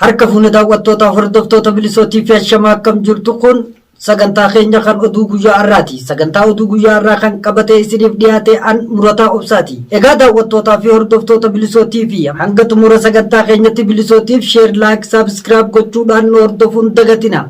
Harka fuune daawwattoota hordoftoota bilisootii fi ashamaa akkam jirtu kun sagantaa keenya kan oduu guyyaa har'aati. Sagantaa oduu guyyaa har'aa kan qabatee isiniif dhiyaate an murataa obsaati. Egaa daawwattootaa fi hordoftoota bilisootii fi hanga xumura sagantaa keenyatti bilisootiif sheer laayik saabiskiraayib gochuudhaan nu hordofuun dagatina.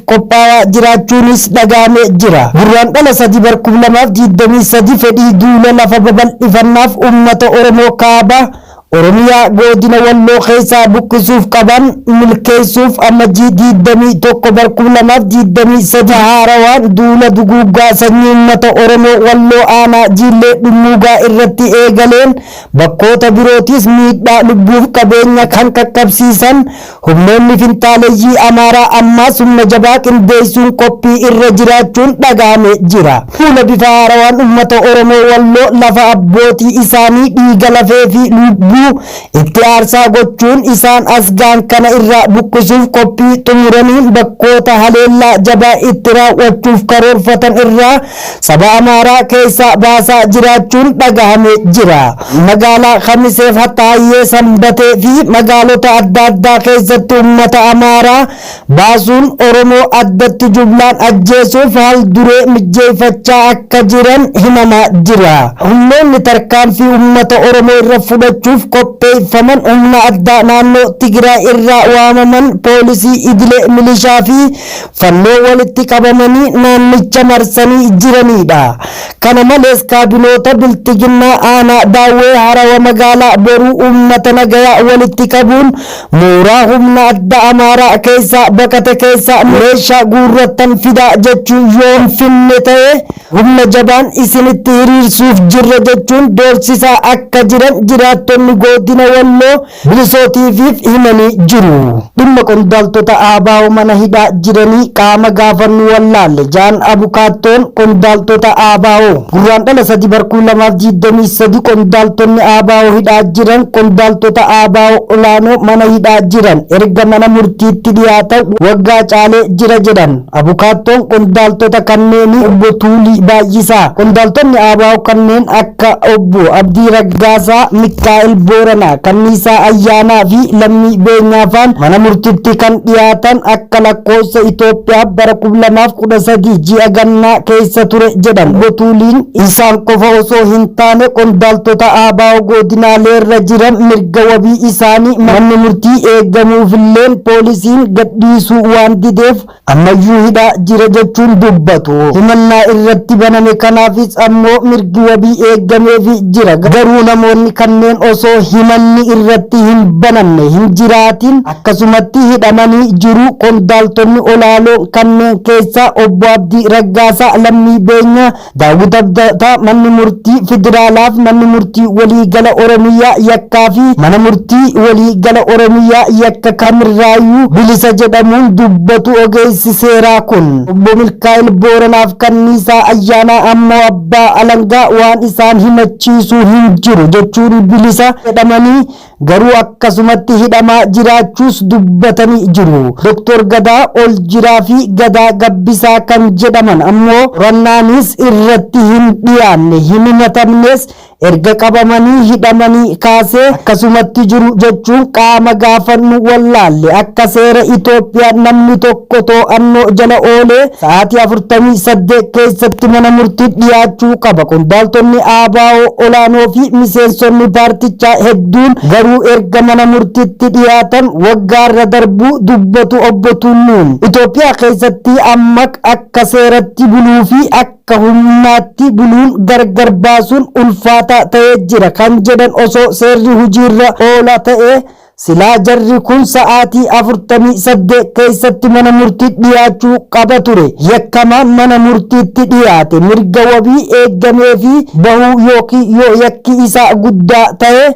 qophaawaa jiraachuunis dhaga'ame jira. Gurraandhala 3 bar 2023 fedhii duula lafa babal'ifannaaf uummata Oromoo Kaaba Oromiyaa goodina Walloo keessaa buqqisuuf qaban milkeessuuf Ammajjii 21 bar 2023 haarawaan duula duguuggaa sanyii uummata Oromoo Walloo aanaa Jiillee Dhummuugaa irratti eegaleen bakkoota birootis miidhaa lubbuuf qabeenya kan qaqqabsiisan Humnoonni finxaaleyyii Amaaraa ammaas humna jabaa qindeessuun qophii irra jiraachuun dhaga'ame jira. Fuula bifa haarawaan ummata Oromoo Walloo lafa abbootii isaanii dhiiga lafee fi lubbuu itti aarsaa gochuun isaan as ga'an kana irraa buqqisuuf qophii xumuraniin bakkoota haleellaa jabaa itti raaw'achuuf karoorfatan irraa Saba Amaaraa keessaa baasaa jiraachuun dhagahame jira. Magaalaa Kamisee Fataayyee Sanbatee fi magaalota adda addaa keessatti ummata Amaaraa baasuun Oromoo addatti jumlaan ajjeesuuf hal duree mijjeeffachaa akka jiran himamaa jira. Humnoonni tarkaanfii ummata Oromoo irra fudhachuuf qopheeffaman humna addaa naannoo Tigiraay irraa waamaman, poolisii idilee, milishaa fi fannoo walitti qabamanii naannicha marsanii jiraniidha. Kana malees kaabinoota Bilxiginnaa aanaa Daawwee Harawa magaalaa Boruu uummata nagayaa walitti qabuun mooraa humna addaa Amaaraa keessaa baqate keessaa meeshaa guurrattan fidaa jechuun yoo hin finne ta'e humna jabaan isinitti hiriirsuuf jirra jechuun doorsisaa akka jiran jiraattonni Goodina Walloo Bilisoo TVf himanii jiru. Dhimma qondaaltota ABO mana hidhaa jiranii qaama gaafannu wallaalle ja'an abukaattoon qondaaltota ABO. Gurraandhala 3 bar 2023 qondaaltonni ABO hidhaa jiran qondaaltota ABO olaanoo mana hidhaa jiran erga mana murtiitti dhiyaatan waggaa caalee jira jedhan. Abukaattoon qondaaltota kanneenii Obbo Tuulii Baay'isaa, qondaaltonni ABO kanneen akka Obbo Abdii Raggaasaa, Mikkaa'el Booranaa, Kanniisaa Ayyaanaa fi Lammii Beenyaa faan mana murtitti kan dhiyaatan akka lakkoofsa Itoophiyaa bara 2013 ji'a gannaa keessa ture jedhan Obbo Tuuliin. Isaan qofa osoo hin taane qondaaltota ABO godinaaleerra jiran mirga mirga wabii isaanii manni murtii eegamuufilleen poolisiin gadhiisuu waan dideef ammayyuu hidhaa jira jechuun dubbatu. Himannaa irratti baname kanaafis ammoo mirgi wabii eegameefi jira. Garuu namoonni kanneen osoo himanni irratti hin banamne hin jiraatin akkasumatti hidhamanii jiru. Qondaaltonni olaaloon kanneen keessaa Obbo Abdii Raggaasaa lammii beenyaa Daawwit Abdataa Manni Murtii Federaalaaf Manni Murtii Walii Gala Oromiyaa yakkaa fi Mana Murtii Walii Gala Oromiyaa yakka kamirraayyuu bilisa jedhamuun dubbatu ogeessi seeraa kun. Obbo Milkaa'el Booranaaf Kanniisaa Ayyaanaa ammoo Abbaa Alangaa waan isaan himachiisuu hin jiru jechuun bilisa jedhamanii garuu akkasumatti hidhamaa jiraachuus dubbatanii jiru. Doktor Gadaa Oljiraa fi Gadaa Gabbisaa kan jedhaman ammoo qorannaanis irratti hin dhiyaanne, hin himatamnes, erga qabamanii hidhamanii kaasee akkasumatti jiru jechuun qaama gaafannu wallaalle. Akka seera Itoophiyaa namni tokko. tokko to'annoo jala oolee sa'aatii 48 keessatti mana murtii dhiyaachuu qaba. Qondaaltonni ABO olaanoo fi miseensonni paartichaa hedduun garuu erga mana murtiitti dhiyaatan waggaarra darbuu dubbatu Obbo Tulluun. Itoophiyaa keessatti amma akka seeratti buluu fi akka humnaatti buluun gargar baasuun ulfaataa ta'ee jira kan jedhan osoo seerri hojiirra oola ta'ee Silaa jarri kun sa'aatii 48 keessatti mana murtiitti dhiyaachuu qaba ture. Yakkamaan mana murtiitti dhiyaate mirga wabii eeggameefii bahuu ykn yoo yakki isaa guddaa tahe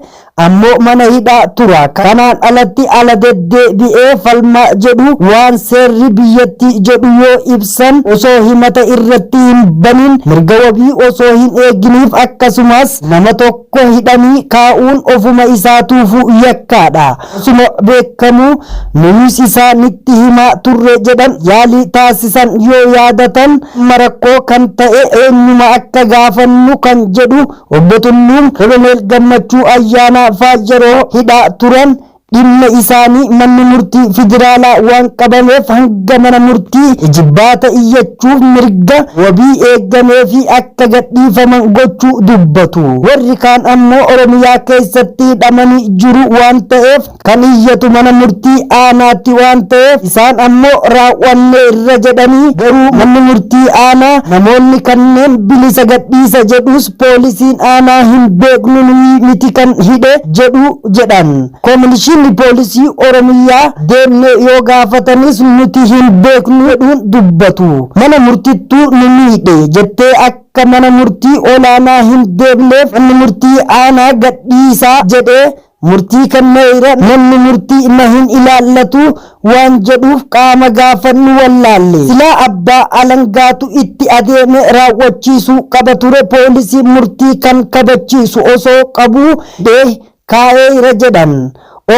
ammoo mana hidhaa tura. Kanaan alatti ala deddeebi'ee falmaa jedhu waan seerri biyyattii jedhu yoo ibsan osoo himata irratti hin baniin mirga wabii osoo hin eeginiif akkasumas nama tokko Tokko hidhanii kaa'uun ofuma isaatuufuu yakkaadha. Osuma beekkamuu nuyis isaa nitti himaa turre jedhan yaalii taasisan yoo yaadatan amma rakkoo kan ta'e eenyuma akka gaafannu kan jedhu Obbo Tulluun Koloneel Gammachuu Ayyaanaa faa yeroo hidhaa turan dhimma isaanii manni murtii federaalaa waan qabameef hanga mana murtii ijibbaata iyyachuuf mirga wabii eeggameefii akka gadhiifaman gochuu dubbatu. Warri kaan ammoo Oromiyaa keessatti hidhamanii jiru waan ta'eef kan iyyatu mana murtii aanaatti waan ta'eef isaan ammoo raawwanneerra jedhanii garuu manni murtii aanaa namoonni kanneen bilisa gadhiisa jedhus Poolisiin aanaa hin beeknu nuyi miti kan hidhe jedhu jedhan. Kominishinni Poolisii Oromiyyaa deemnee yoo gaafatanis nuti hin beeknu jedhuun dubbatu. Mana murtittu nu miidhe jettee akka mana murtii olaanaa hin deemneef manni murtii aanaa gadhiisaa jedhee Murtii kanna ira manni murtii ima hin ilaallatu waan jedhuuf qaama gaafannu wallaalle. Silaa abbaa alangaatu itti adeeme raawwachiisuu qaba ture poolisiin murtii kan kabachiisu osoo qabuu deh kaa'eeira jedhan.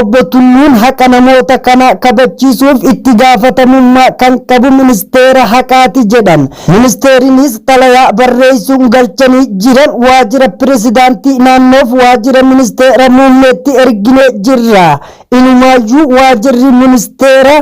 Obbo Tulluun haqa namoota kanaa kabachiisuuf itti gaafatamummaa kan qabu ministeera haqaati jedhan. Ministeerinis xalayaa barreessuun galchanii jiran waajira pirezidaantii naannoof waajira ministeera muummeetti erginee jirra. Inumaayyuu waajirri ministeera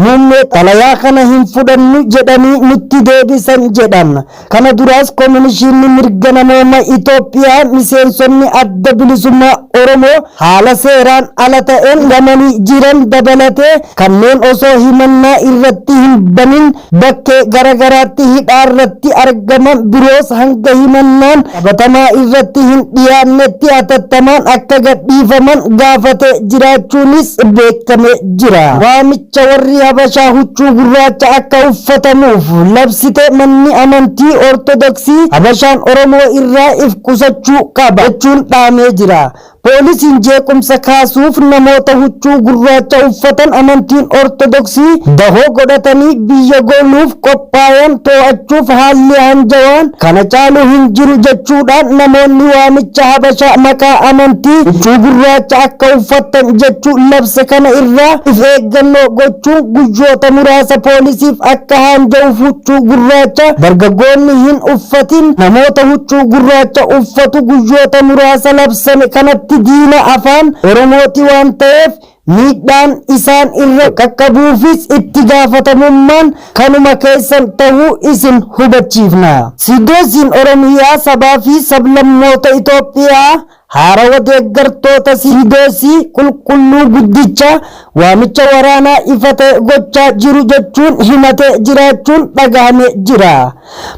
muummee xalayaa kana hin fudhannu jedhanii nutti deebisan jedhan. Kana duraas Kominishiinni Mirga Namooma Itoophiyaa miseensonni Adda Bilisummaa Oromoo haala seeraan ala ta'een hidhamanii jiran dabalatee kanneen osoo himannaa irratti hin banin bakkee gara garaatti hidhaa irratti argaman biroos hanga himannaan qabatamaa irratti hin dhiyaannetti hatattamaan akka gadhiifaman gaafatee jiraachuunis beekamee jira. Waamicha warri Habashaa huccuu gurraacha akka uffatamuuf labsite manni amantii Ortodoksii Habashaan Oromoo irraa if qusachuu qaba jechuun dhaamee jira. Poolisiin jeequmsa kaasuuf namoota huccuu gurraacha uffatan amantiin Ortodoksii dahoo godhatanii biyya gooluuf qophaayan too'achuuf haalli aanjawaan kana caalu hin jiru jechuudhaan namoonni waamicha Habashaa maqaa amantii huccuu gurraacha akka uffattan jechuun labse kana irraa if eeggannoo gochuun guyyoota muraasa poolisiif akka haanjawuuf huccuu gurraacha dargaggoonni hin Uffatiin namoota huccuu gurraacha uffatu guyyoota muraasa labsame kanatti diina Afaan Oromooti waan ta'eef miidhaan isaan irra qaqqabuufis itti gaafatamummaan kanuma keessan ta'uu isin hubachiifna. Siidosiin Oromiyaa sabaa fi sablammoota Itoophiyaa Haarawa deeggartoota Siidoosii Qulqulluu Guddichaa waamicha waraanaa ifa ta'e gochaa jiru jechuun himatee jiraachuun dhagahame jira.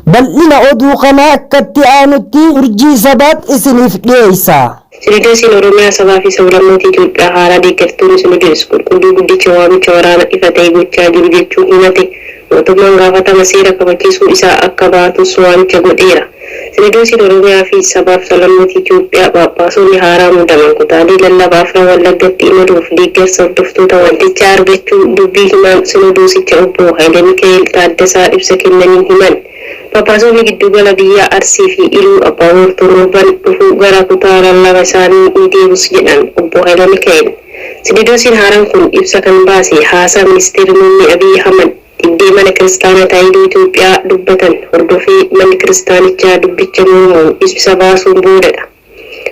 Bal'ina oduu kanaa akkatti aanutti Urjii Sabaat isiniif dhiyeessa. Sinidoosiin Oromiyaa Sabaa fi Sablammoota Itoophiyaa haaraa deeggartoonni Sinidoos Qulqulluu Guddicha waamicha waraana ifa ta'e gochaa jiru jechuun himate Mootummaan gaafatama seera kabachiisuu isaa akka baatus waamicha godheera. Sinodoosiin Oromiyaa fi Sabaaf Sablammoota Itiyoophiyaa Phaaphaasonni haaraa muudaman kutaalee lallaba afran Wallaggatti imaluuf deeggarsa hordoftoota waldichaa argachuu dubbii himaan Sinodoosicha Obbo Hayilemika'eel Taaddasaa ibsa kennaniin himan. Phaaphaasonni gidduugala biyyaa Arsii fi Iluu Abbaaboor torban dhufu gara kutaa lallaba isaanii ni deebus jedhan Obbo Hayilemika'eel. Sinidoosiin haaraan kun ibsa kan baase haasaa Ministeerri Muummee Abiy Ahmad dhibdee Mana Kiristaanaa Taayidoo Itoophiyaa dubbatan hordofee Manni Kiristaanichaa dubbicha mormuun ibsa baasuun boodadha.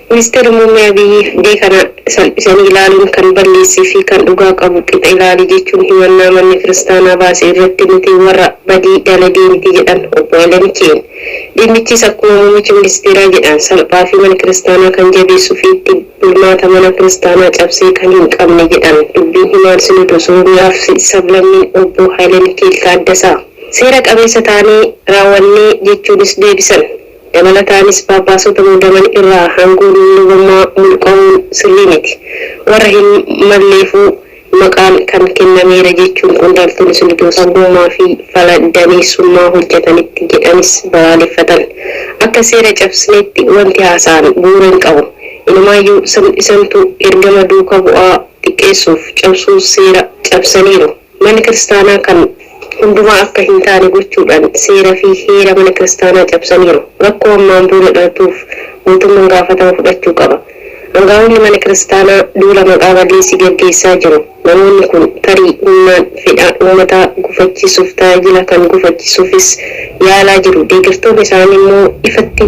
Ministeerri Muummee Abiy dhibdee kana salphisanii ilaaluun kan balleesse fi kan dhugaa qabu qixa ilaali jechuun himannaa Manni Kiristaanaa baase irratti nuti warra badii dalagee miti jedhan Obbo Hayilamiki'eel. Dhimmichis akkuma Muummichi Ministeeraa jedhan salphaa fi Mana Kiristaanaa kan jabeessu fi itti bulmaata mana kiristaanaa cabsee kan hin qabne jedhan dubbiin himaan Sinodoos Oromiyaa fi Sablammiin Obbo Haayilemikeel Taaddasaa. Seera qabeessa taanee raawwannee jechuunis deebisan. Dabalataanis Phaaphaasota muudaman irraa aangoon lubummaa mulqa'uun sirrii miti. Warra hin malleefuu. maqaan kan kennameera jechuun qondaaltonni sirni doorsummaa fi fala daneessummaa hojjetanitti jedhanis balaaleffatan. Akka seera cabsineetti wanti haasa'an bu'uura hin qabu. Inumaayyuu sirn isantu ergama duuka bu'aa xiqqeessuuf cabsuu seera cabsaniiru. Manni kiristaanaa kan hundumaa akka hin taane gochuudhaan seera fi heera mana kiristaanaa cabsaniiru. Rakkoo ammaan booda dhalatuuf mootumman gaafatama fudhachuu qaba. Angaa'onni mana kiristaanaa duula maqaa balleessii gaggeessaa jiru. Namoonni kun tarii humnaan fedha ummataa gufachiisuuf tajaajila kan gufachiisuufis yaalaa jiru. Deeggartoonni isaanii immoo ifatti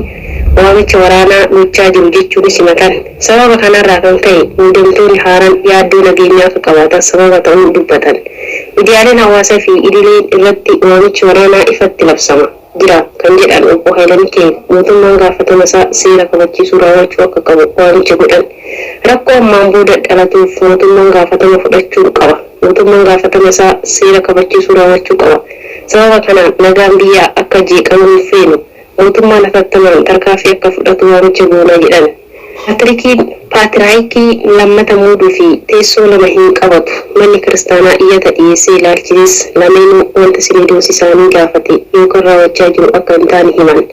waamicha waraanaa gochaa jiru jechuunis himatan. Sababa kanarraa kan ka'e muudamtoonni haaraan yaaddoo nageenyaa akka qabaatan sababa ta'uu dubbatan. Midiyaaleen hawaasaa fi idileen irratti waamichi waraanaa ifatti labsama. jira kan jedhan Obbo Haylamikeel, mootummaan gaafatamasaa seera kabachiisuu raawwachuu akka qabu waamicha godhan. Rakkoo ammaan booda dhalatuuf mootummaan gaafatama fudhachuun qaba. Mootummaan gaafatama isaa seera kabachiisuu raawwachuu qaba. Sababa kanaan nagaan biyyaa akka jeeqamu hin feenu. Mootummaan hatattamaan tarkaanfii akka fudhatu waamicha goona jedhan. Paatrikiin Paatiraayikii lammata muuduu fi teessoo lama hin qabatu. Manni Kiristaanaa iyyata dhiyeessee ilaalchisees lameenuu wanta Sinoodoosii isaanii gaafate yookan raawwachaa jiru akka hin taane himan.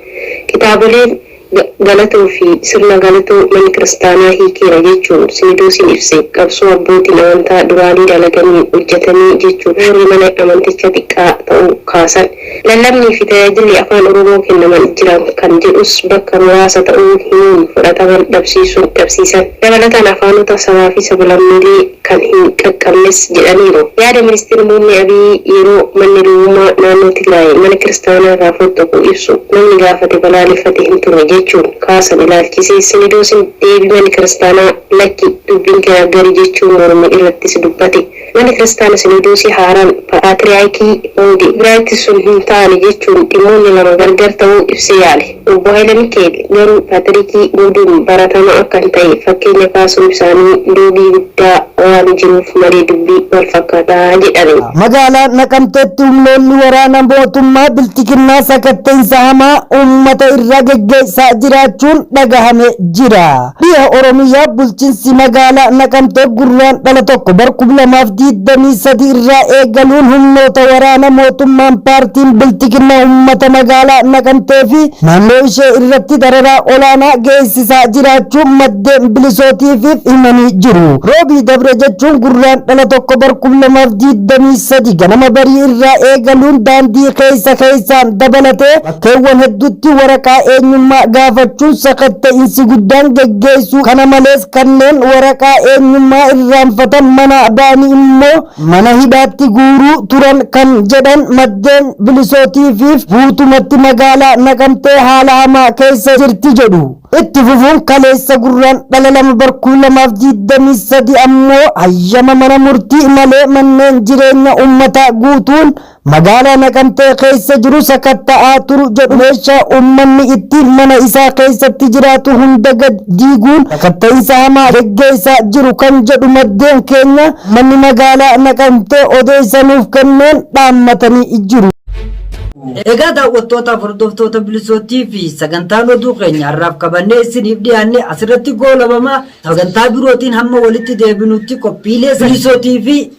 Kitaaboleen Ga, Galatoo fi Sirna Galatoo Manni Kiristaanaa hiikeera jechuun Sinodoosiin ibse qabsoo abbootiin amantaa duraanii dalaganiin hojjetame jechuun warri mana amantichaa xiqqaa ta'uu kaasan. Lallabnii fi tajaajilli Afaan Oromoo kennaman jiran kan jedhus bakka muraasa ta'uu himuun fudhatama dhabsiisuun dhabsiisan dabalataan afaanota sabaa fi sablammiilee kan hin qaqqabnes jedhaniiru. Yaada Ministir Muummee Abiy yeroo manni lubummaa naannoo Tigraay mana kiristaanaa irraa foxxoqu ibsu namni gaafate balaaleffate hin turre jechuun kaasan ilaalchisee Sinidoosin deebii manni kiristaanaa lakki dubbiin kee aggari jechuun morme irrattis dubbate. Manni Kiristaana Sinodoosii haaraan Pa'aatiriyaakii Hundi Biraayit sun hin taane jechuun dhimmoonni lama gargar ta'uu ibsee yaale. Obbo Hayilamikeel garuu Paatirikii muuduun baratamaa akka hin ta'e fakkeenya kaasuun isaanii loogii guddaa waan jiruuf malee dubbii wal fakkaata jedhani. Magaalaa Naqamteetti humnoonni waraana mootummaa bilxiginnaa sakatta'insa hamaa uummata irra geggeessaa jiraachuun dhagahame jira. Dhiha Oromiyaa bulchinsi magaalaa Naqamtee Gurraandhala 1 bar 2023 irraa eegaluun humnoota waraana mootummaan paartiin Bilxiginnaa uummata magaalaa Naqamtee fi naannoo ishee irratti dararaa olaanaa geessisaa jiraachuu maddeen Bilisootiifiif himanii jiru. Roobii dabre jechuun Gurraandhala 1 bar 2023 ganama barii irraa eegaluun daandii keessa keessaan dabalatee Bakkeewwan hedduutti waraqaa eenyummaa gaafachuun sakatta'insi guddaan geggeessu. Kana malees kanneen waraqaa eenyummaa irraanfatan manaa ba'anii immoo mana hidhaatti guuruu turan kan jedhan maddeen Bilisootiifiif guutumatti magaalaa Naqamtee haala hamaa keessa jirti jedhu. Itti fufuun kaleessa Gurraandhala 2 bar 2023 ammoo hayyama mana murtii malee manneen jireenya uummataa guutuun Magaalaa Naqamtee keessa jiru sakatta'aa turu jedhu meeshaa uummanni ittiin mana isaa keessatti jiraatu hunda gad diiguun sakatta'insa hamaa geggeessaa jiru kan jedhu maddeen keenya uummanni magaalaa Naqamtee odeessa nuuf kenneen dhaammatanii jiru. Egaa daawwattootaaf hordoftoota bilisootii fi sagantaan oduu keenya har'aaf qabannee isiniif dhiyaanne asirratti goolabama sagantaa birootiin hamma walitti deebinutti qophiilee bilisootii fi